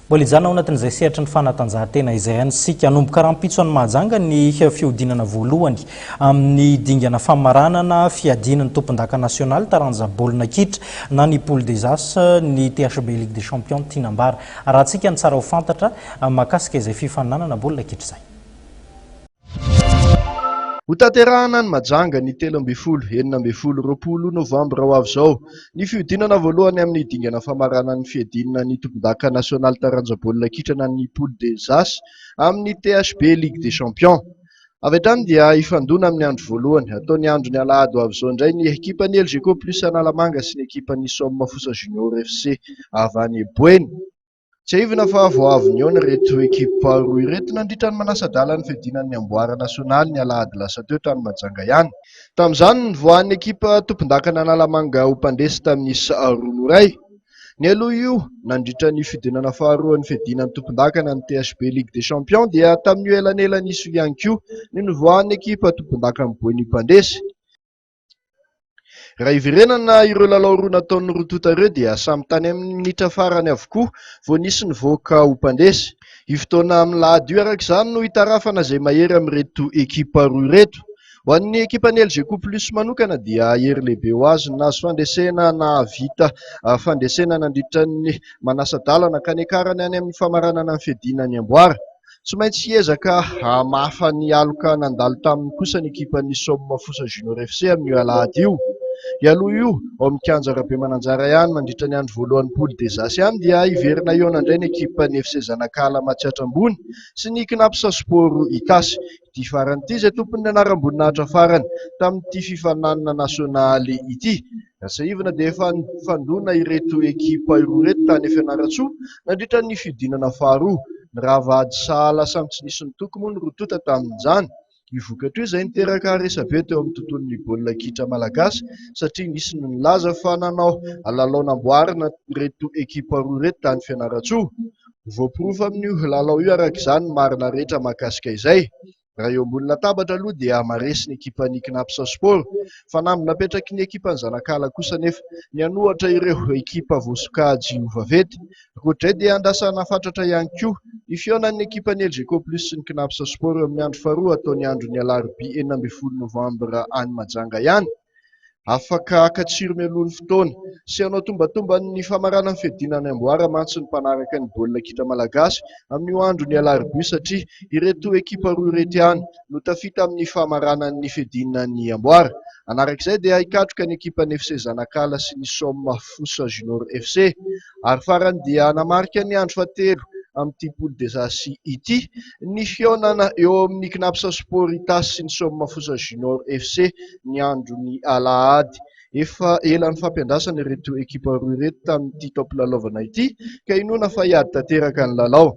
Mbola hijanona ao anatin'izay sehatry ny fanatanjahantena izay ihany isika. Hanomboka rahampitso any Mahajanga ny fihodinana voalohany amin'ny dingana famaranana fiadiana ny tompondaka nasionaly taranja baolina kitra na ny Poule des As ny THB Ligue des Champions Tinambara. Arahantsika ny tsara ho fantatra mahakasika izay fifaninanana baolina kitra izay. Hotanterahina any Mahajanga ny telo ambin'ny folo, enina ambin'ny folo, roapolo novambra ho avy izao ny fihodinana voalohany amin'ny dingana famaranan'ny fiadiana ny tompondaka nasionaly taranja baolina kitra na ny Poule des As amin'ny THB Ligue des Champions. Avy hatrany dia hifandona amin'ny andro voalohany hatao ny andron'ny alahady ho avy izao indray ny ekipan'ny Elgeco plus Analamanga sy ny ekipan'ny Somme Fosa Junior FC avy any Boeny. Tsiahivina fa vao avy nihaona ireto ekipa roa ireto nandritra ny manasa-dala ny fiadiana ny amboara nasionaly ny alahady lasa teo tany Mahajanga ihany. Tamin'izany, nivoahan'ny ekipa tompondakana Analamanga ho mpandresy tamin'ny isa roa no iray. Nialoha io, nandritra ny fidinana faharoa ny fiadiana ny tompondakana ny THB Ligue des Champions dia tamin'io elanelana iso io ihany koa no nivoahan'ny ekipa tompondakan'i Boeny mpandresy. Raha hiverenana ireo lalao roa nataon'ny roa tonta ireo dia samy tany amin'ny minitra farany avokoa vao nisy nivoaka ho mpandresy. Io fotoana amin'ny lahady io araka izany no hitarafana izay mahery amin'ireto ekipa roa ireto. Ho an'ny ekipan'ny Elgeco Plus manokana dia hery lehibe ho azy ny nahazo fandresena nahavita fandresena nandritra ny manasa-dalana ka niakarany any amin'ny famaranana ny fiadiana ny amboara. Tsy maintsy hiezaka hamafa ny aloka nandalo taminy kosa ny ekipan'ny Somme Fosa Junior FC amin'io alahady io. Hialoha io, ao amin'ny kianja Rabemananjara ihany, mandritra ny andro voalohan'ny Poule des As ihany dia hiverina hihaona indray ny ekipan'ny FC Zanakala Matsiatra Ambony sy ny Cnaps Sport Itasy. Ity farany ity izay tompon'ny anaram-boninahitra farany tamin'ity fifaninanana nasionaly ity. Tsiahivina dia efa nifandona ireto ekipa roa ireto tany Fianarantsoa nandritra ny fihodinana faharoa. Nirava ady sahala samy tsy nisy nitoky moa ny roa tonta tamin'izany. Io vokatra io izay niteraka resabe teo amin'ny tontolon'ny baolina kitra malagasy satria nisy ny nilaza fa nanao lalao namboarina ireto ekipa roa ireto tany Fianarantsoa. Ho voaporofo amin'io lalao io araka izany ny marina rehetra mahakasika izay. Raha eo ambony latabatra aloha dia maharesy ny ekipan'ny Cnaps Sport. Fanamby napetraky ny ekipan'ny Zanakala kosa anefa ny hanohatra ireo ekipa voasokajy ho vaventy. Ankoatr'izay dia andrasana fatratra ihany koa ny fihaonan'ny ekipan'ny Elgeco Plus sy ny Cnaps Sport eo amin'ny andro faharoa hatao ny andron'ny alarobia enina ambin'ny folo novambra any Majanga ihany. Afaka haka tsiro mialoha ny fotoana. Sy hanao tombatomban' ny famarana ny fiadiana ny amboara mantsy ny mpanaraka ny baolina kitra malagasy amin' io andron' ny alarobia satria ireto ekipa roa ireto ihany no tafita amin' ny famaranana ny fiadiana ny amboara. Hanarak' izay dia hikatroka ny ekipan' ny FC Zanakala sy ny Somme Fosa Junior FC. ary farany dia hanamarika ny andro fahatelo amin'ity Poule des As ity ny fihaonana eo amin'ny Cnaps Sport Itasy sy ny Soamafosa Junior FC ny andron'ny alahady. Efa ela nifampiandrasana ireto ekipa roa ireto tamin'ity taom-pilalaovana ity ka inoana fa hiady tanteraka ny lalao.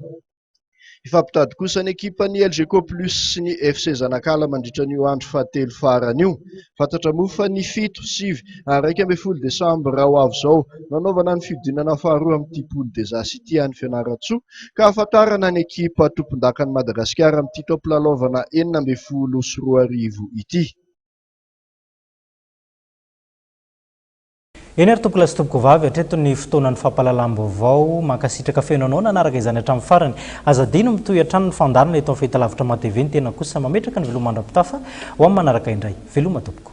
Hifampitady kosa ny ekipan'ny Elgeco Plus sy ny FC Zanakala mandritra an'io andro fahatelo farany io. Fantatra moa fa ny fito, sivy ary iraika ambin'ny folo desambra ho avy izao no hanaovana ny fihodinana faharoa amin'ity Poule des As ity any Fianarantsoa ka hahafantarana ny ekipa tompondakan'i Madagasikara amin'ity taom-pilalaovana enina ambin'ny folo sy roa arivo ity. Eny ary tompokolahy sy tompokovavy, hatreto ny fotoanan'ny fampahalalam-baovao. Mankasitraka feno anao nanaraka izany hatramin'ny farany. Aza adino mitohy hatrany ny fandaharana eto amin'ny Fahitalavitra Matv, ny tena kosa mametraka ny veloma mandra-pitafa ho amin'ny manaraka indray. Veloma tompoko.